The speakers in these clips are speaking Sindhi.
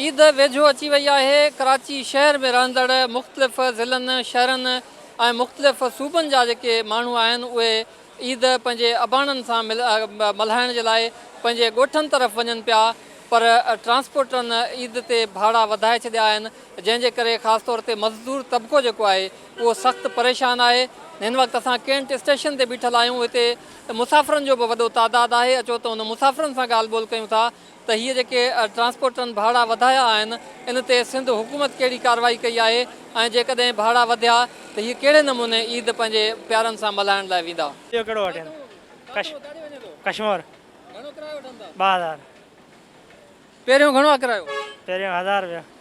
عيد ويجهو اچي وئي آهي، ڪراچي شهر ۾ رهندڙ مختلف ضلعن، شهرن ۽ مختلف صوبن جا جيڪي ماڻهو آهن اهي عيد پنهنجي اباڻن سان ملهائڻ جي لاء پنهنجي ڳوٺن طرف وڃن پيا پر ٽرانسپورٽرن عيد تي ڀاڙا وڌائي ڇڏيا آهن جنهن جي ڪري خاص طور تي مزدور طبقو جيڪو آهي اهو سخت پريشان آهي هن وقت اسان ڪينٽ اسٽيشن تي بيٺل آهيون هتي مسافرن جو به وڏو تعداد آهي اچو ته هن مسافرن سان ڳالهه ٻولهه ڪيون ٿا ته هي جيڪي ٽرانسپورٽرن ڀاڙا وڌايا آهن ان تي سنڌ حڪومت ڪهڙي ڪارروائي ڪئي آهي ۽ جيڪڏهن ڀاڙا وڌيا ته هي ڪهڙي نموني عيد پنهنجي پيارن سان ملهائڻ لاء ويندا. اهو ڪهڙو وٺين ڪشمور ٻه هزار. پهريون گهڻو آ ڪرايو. پهريون هزار رپيا.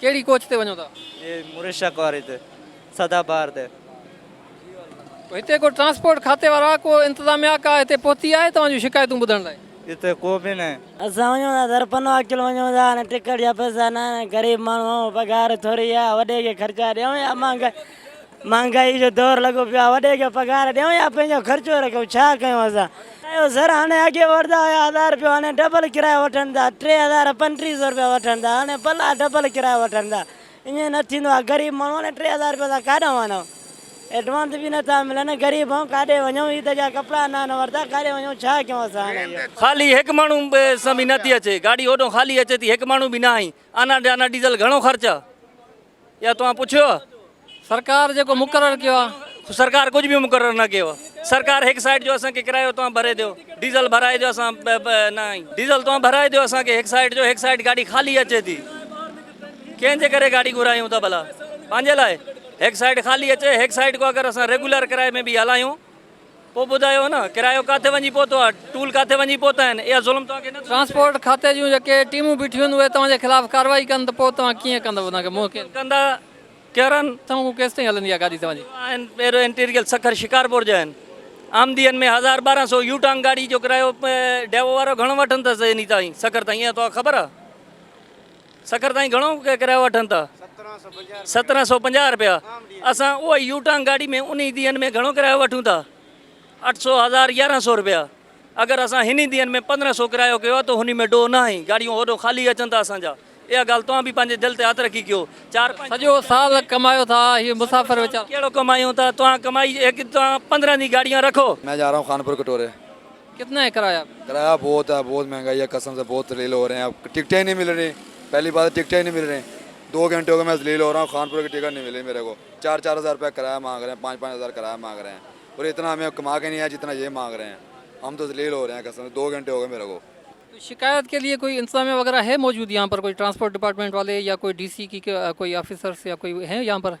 ڪهڙي ڪوچ تي وڃو ٿا؟ جي مريشڪ واري تي سدا بهار تي. تو هتي ڪو ٽرانسپورٽ کاتي وارا ڪو انتظاميا ڪا هتي پهتي آهي توهان جون شڪايتون ٻڌڻ لاء. هتي ڪو به ناهي. اسان وڃون ٿا درپنو اڪيل وڃون ٿا ۽ ٽڪيٽ جا پئسا ناهن ۽ غريب ماڻهو آهيون پگهار ٿوري آهي وڏي کي خرچا ڏيون يا امان کي مھانگائي جو دور لڳو پيو آ وڏي کي پگھار ڏيون يا پنھنجو خرچو رکيون ڇا ڪيون اسان ڪايو سر ھاڻي اڳي وٺدا ھيا ھزار رپيو ھاڻي ڊبل ڪرايو وٺن ٿا ٽي ھزار پنٽيھ سو رپيا وٺن ٿا ھاڻي پلا ڊبل ڪرايو وٺن ٿا ائين نه ٿيندو آ غريب ماڻھو ھاڻي ٽي ھزار رپيا اسان ڪاڏا آڻون ايڊوانس به نه ٿا ملن غريب آھيون ڪاڏي وڃون عيد جا ڪپڙا نه آھن ورتا ڪاڏي وڃون ڇا ڪيون اسان ھاڻي اھو. خالي ھڪ ماڻھو سان به نه ٿي اچي گاڏي ھوڏو خالي اچي ٿي ھڪ ماڻھو به ناھي آنا ڊانا ڊيزل گھڻو خرچ آ يا توهان پڇيو سرڪار جيڪو مقرر ڪيو آ. سرڪار ڪجھ به مقرر نه ڪيو سرڪار هڪ سائيٽ جو اسان کي ڪرايو توهان ڀري ڏيو ڊيزل ڀرائي ڏيو اسان نه آهين ڊيزل توهان ڀرائي ڏيو اسان کي هڪ سائيٽ جو هڪ سائيٽ گاڏي خالي اچي ٿي ڪنهن جي ڪري گاڏي گهرايون ٿا ڀلا پنهنجي لاء هڪ سائيٽ خالي اچي هڪ سائيٽ کو اگر اسان ريگولر ڪرائي ۾ به هلايون پوء ٻڌايو نه ڪرايو ڪاٿي وڃي پهتو آهي ٽول ڪاٿي وڃي پهتا آهن اها ظلم توهان کي نه ٿيو. ٽرانسپورٽ کاتي جون جيڪي ٽيمون بيٺيون هونديون اهي توهان جي خلاف ڪارروائي ڪن ته پوء توهان ڪيئن ڪندو انهن کي منهن ڪيئن ڪندا ڪيرن. سانگون ڪيستائين هلندي آهي گاڏي توهان جي. آهن پيرو انٽيريل سکر شڪارپور جا آهن آمدين ۾ هزار ٻارهن سو يو ٽانگ گاڏي جو ڪرايو ڊيوو وارو گهڻو وٺن ٿس انهي تائين سکر تائين اها توهان کي خبر آهي. سکر تائين گهڻو ڪرايو وٺن ٿا؟ سترهن سؤ پنجاهه رپيا اسان اهو ئي يو ٽانگ گاڏي ۾ انهي ڏينهن ۾ گهڻو ڪرايو وٺون ٿا اٺ سؤ هزار يارهن سؤ رپيا اگر اسان هني ڏينهن ۾ پندرهن سؤ ڪرايو ڪيو آهي ته هني ۾ ڊوهه ناهي گاڏيون هوڏو خالي اچن ٿا اسان جا اها ڳالهه توهان به پنهنجي دل تي هٿ رکي ڪيو چار سڄو سال ڪمايو ٿا هي مسافر ويچارا. ڪهڙو ڪمايون ٿا توهان ڪمائي هڪ توهان پندرهن جي گاڏيون رکو. ۾ جا رها هون خانپور ڪٽوري. ڪتنا هي ڪرايا؟ ڪرايا بهت آ بهت مهنگائي آ قسم سي بهت ذليل هو رهي آ ٽڪٽي هي نهي مل رهي پهلي بات ٽڪٽي هي نهي مل رهي دو گهنٽي هو گئي مي ذليل هو رها هو خانپور ڪي ٽڪٽ نهي ملي ميري ڪو چار چار هزار روپيا ڪرايا مانگ رهي پانچ پانچ هزار ڪرايا مانگ رهي اور اتنا همي ڪما ڪي نهي آئي جتنا هي مانگ رهي هم تو ذليل هو رهي آ قسم سي دو گهنٽي هو گئي ميري ڪو. شڪايت ڪي ليي ڪوئي انتظاميه وغيره هي موجود يهان پر ڪوئي ٽرانسپورٽ ڊپارٽمنٽ والي يا ڪوئي ڊي سي ڪي ڪوئي آفيسرس يا ڪوئي هي يهان پر؟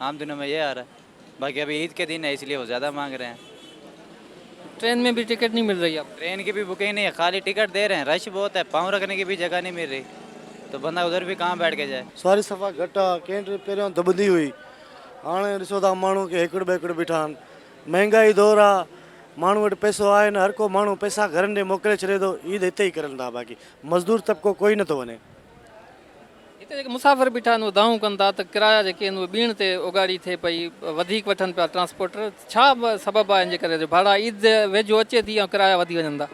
عام دنو مين يهي آرها هي باقي ابهي عيد ڪي دن هي اسليي وو زياده مانگ رهي هين. ٽرين مين ڀي ٽڪيٽ نهي مل رهي هي. ٽرين ڪي ڀي بوڪنگ نهي هي خالي ٽڪيٽ دي رهي هين رش بهوت هي پاون رکني ڪي ڀي جگهه نهي مل رهي تو بندا ادهر ڀي ڪهان بيٺ ڪي جائي. سواري صفا گهٽ آ ڪين ٽرين پهريون دٻندي هئي هاڻ ڏسو ٿا ماڻهو ڪي هيڪڙ ٻيڪڙ بيٺا آهن مهنگائي دور آ ماڻهو وٽ پئسو آهي نه هر ڪو ماڻهو پئسا گهرن ڏي موڪلي ڇڏي ٿو عيد هتي ئي ڪرن ٿا باقي مزدور طبقو ڪوئي نه ٿو وڃي. هتي جيڪي مسافر بيٺا آهن اهي دانهون ڪن ٿا ته ڪرايا جيڪي آهن اهي ٻيڻ تي اوڳاڙي ٿئي پئي وڌيڪ وٺن پيا ٽرانسپورٽر ڇا سبب آهي ان جي ڪري جو ڀاڙا عيد ويجهو اچي ٿي ۽ ڪرايا وڌي وڃن ٿا.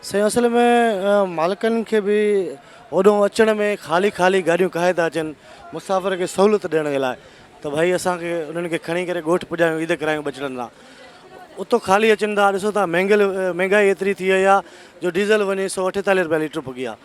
سائين اصل ۾ مالڪن کي به هوڏهون اچڻ ۾ خالي خالي گاڏيون ڪاهي ٿا اچن مسافر کي سهولت ڏيڻ جي لاء ته ڀائي اسان کي انهن کي کڻي ڪري ڳوٺ پڄايون عيد ڪرايون ٻچڙن سان اتو خالي اچن ٿا ڏسو ٿا مهنگل مهنگائي ايتري ٿي وئي آهي جو ڊيزل وڃي سؤ اٺيتاليهه روپيا ليٽر پڳي آهي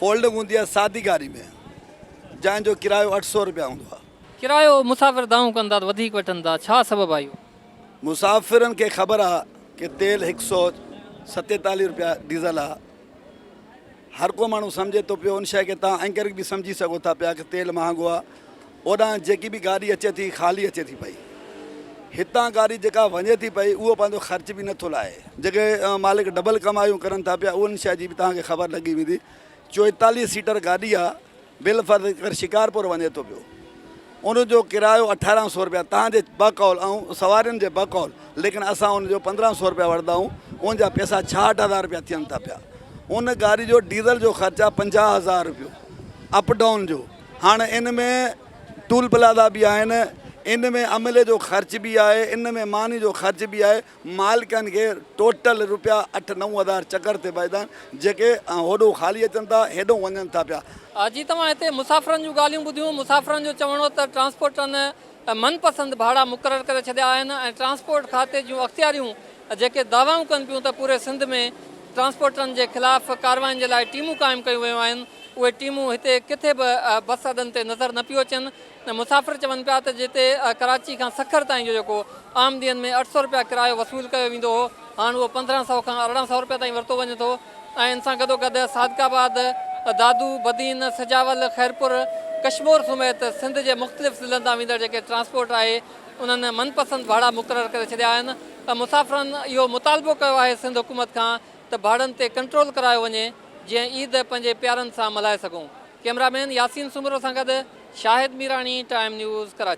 فولڊنگ هوندي آهي سادي گاڏي ۾ جنهن جو ڪرايو اٺ سؤ رپيا هوندو آهي. ڪرايو مسافر دانهون ڪن ٿا ته وڌيڪ وٺن ٿا، ڇا سبب آهي اهو؟ مسافرن کي خبر آهي ته تيل هڪ سؤ ستيتاليهه رپيا ڊيزل آهي. هر ڪو ماڻهو سمجهي ٿو پيو ان شيء کي تان انڪري به سمجهي سگهو ٿا پيا ته تيل مهانگو آهي اوڏانهن جيڪي به گاڏي اچي ٿي خالي اچي ٿي پئي. هتان گاڏي جيڪا وڃي ٿي پئي اهو پنهنجو خرچ به نه ٿو لاهي. جيڪي مالڪ ڊبل ڪمايون ڪرن ٿا پيا انهن شيء جي به توهان کي خبر لڳي ويندي. چوئيتاليهه سيٽر گاڏي آ بالفرض هيڪر شڪارپور وڃي ٿو پيو ان جو ڪرايو اٺارهن سو رپيا توهان جي بقول ۽ سوارين جي بقول ليڪن اسان ان جو پندرهن سو رپيا وردا آهيون ان جا پئسا ڇاهٺ هزار رپيا ٿين ٿا پيا ان گاڏي جو ڊيزل جو خرچ آ پنجاهه هزار رپيو اپ ڊائون جو. هاڻ ان ۾ ٽول پلازا به آهن ان ۾ عملي جو خرچ به آهي ان ۾ ماني جو خرچ به آهي مالڪن کي ٽوٽل روپيا اٺ نو هزار چڪر تي بچدا آهن جيڪي هوڏو خالي اچن ٿا هيڏو وڃن ٿا پيا. جي توهان هتي مسافرن جون ڳالهيون ٻڌيون مسافرن جو چوڻ هو ته ٽرانسپورٽن ۽ من پسند ڀاڙا مقرر ڪري ڇڏيا آهن ۽ ٽرانسپورٽ کاتي جون اختياريون جيڪي دعوائون ڪن پيون ته پوري سنڌ ۾ ٽرانسپورٽرن جي خلاف ڪارواين جي لاء ٽيمون قائم ڪيون ويون آهن اهي ٽيمون هتي ڪٿي به بس اڏن تي نظر نه پيو اچن ۽ مسافر چون پيا ته جتي ڪراچي کان سکر تائين جو جيڪو عام ڏينهن ۾ اٺ سئو رپيا ڪرايو وصول ڪيو ويندو هو هاڻ اهو پندرهن سئو کان ارڙهن سئو رپيا تائين ورتو وڃي ٿو. ۽ ان سان گڏوگڏ صادق آباد، دادو، بدين، سجاول، خيرپور، ڪشمور سميت سنڌ جي مختلف ضلعن تان ويندڙ جيڪي ٽرانسپورٽ آهي انهن من پسند ڀاڙا مقرر ڪري ڇڏيا آهن ۽ مسافرن اهو مطالبو ڪيو آهي سنڌ حڪومت کان ته ڀاڙن تي ڪنٽرول ڪرايو وڃي جيئن عيد پنهنجي پيارن سان ملهائي سگهون ڪئميرا مين ياسين سومرو سان گڏ شاهد ميراڻي ٽائيم نيوز ڪراچي.